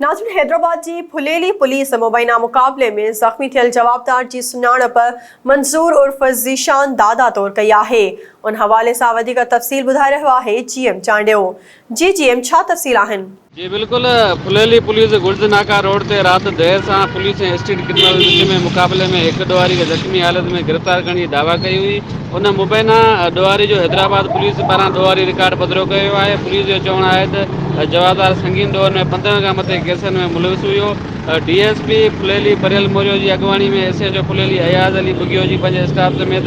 ناظرين حيدرآباد جي ڦليلي پوليس مبينا مقابلي ۾ زخمي ٿيل جوابدار جي سڃاڻپ منظور عرف ذيشان دادا طور ڪئي آهي ان حوالي سان وڌيڪ تفصيل ٻڌائي رهيو آهي جي ايم چانڊيو جي جي ايم ڇا تفصيل آهن. جي بلڪل ڦليلي پوليس گرج ناڪا روڊ تي رات دير سان پوليس ۽ اسٽريٽ ڪرمنلز وچ ۾ مقابلي ۾ هڪ ڏوهاري کي زخمي حالت ۾ گرفتار ڪرڻ جي دعويٰ ڪئي هئي ان مبينا ڏوهاري جو حيدرآباد پوليس پاران ڏوهاري رڪارڊ پڌرو ڪيو ويو آهي. پوليس جو چوڻ آهي ته جوابدار سنگين ڏوهن ۾ پندرهن کان مٿي ڪيسن ۾ ملوث هيو. D S P Phuleli Pareel Morio جي اڳواڻي ۾ S H O Phuleli Ayaz Ali Bughio جي پنهنجي اسٽاف سميت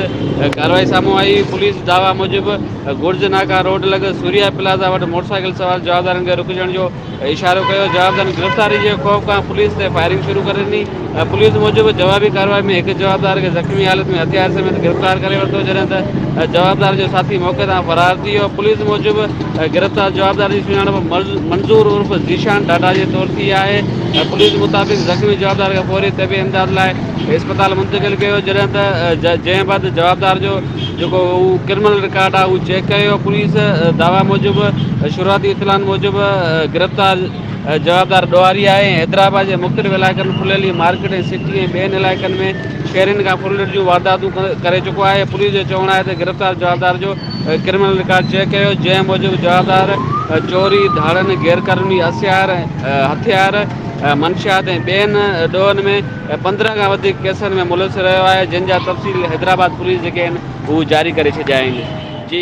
ڪارروائي سامهون آئي هئي. پوليس دعويٰ موجب گرج ناڪا روڊ لڳ سوريا پلازا وٽ موٽرسائيڪل سوار جوابدارن کي رڪجڻ جو اشارو ڪيو، جوابدارن گرفتاري جي خوف کان پوليس تي فائرنگ شروع ڪري ڏني، پوليس موجب جوابي ڪارروائي ۾ هڪ جوابدار کي زخمي حالت ۾ هٿيار سميت گرفتار ڪري ورتو جڏهن ته جوابدار جو ساٿي موقعي تان فرار ٿي ويو، پوليس موجب گرفتار جوابدار جي سڃاڻپ منظور عرف ذيشان ڍاڍا جي طور ٿي آهي، پوليس مطابق زخمي جوابدار کي فوري طبي امداد لاء اسپتال منتقل ڪيو ويو جڏهن ته جنهن بعد جوابدار جو جيڪو هو ڪرمنل رڪارڊ آهي اهو چيڪ ڪيو ويو، پوليس دعويٰ موجب شروعاتي اطلاعن موجب گرفتار جوابدار ڏوهاري آهي ۽ حيدرآباد جي مختلف علائقن ڦليلي مارڪيٽ ۽ سٽي ۽ ٻين علائقن ۾ شهرين کان ڦرلٽ جون وارداتون ڪري چڪو آهي پوليس جو چوڻ آهي ته گرفتار جوابدار جو ڪرمنل رڪارڊ چيڪ ڪيو ويو جنهن موجب جوابدار چوري ڌاڙن غيرقانوني اسهار هٿيار منشيات ۽ ٻين ڏوهن ۾ هي پندرهن کان وڌيڪ ڪيسن ۾ ملوث رهيو آهي جن جا تفصيل حيدرآباد پوليس جيڪي آهن هو جاري ڪري ڇڏيا آهن جي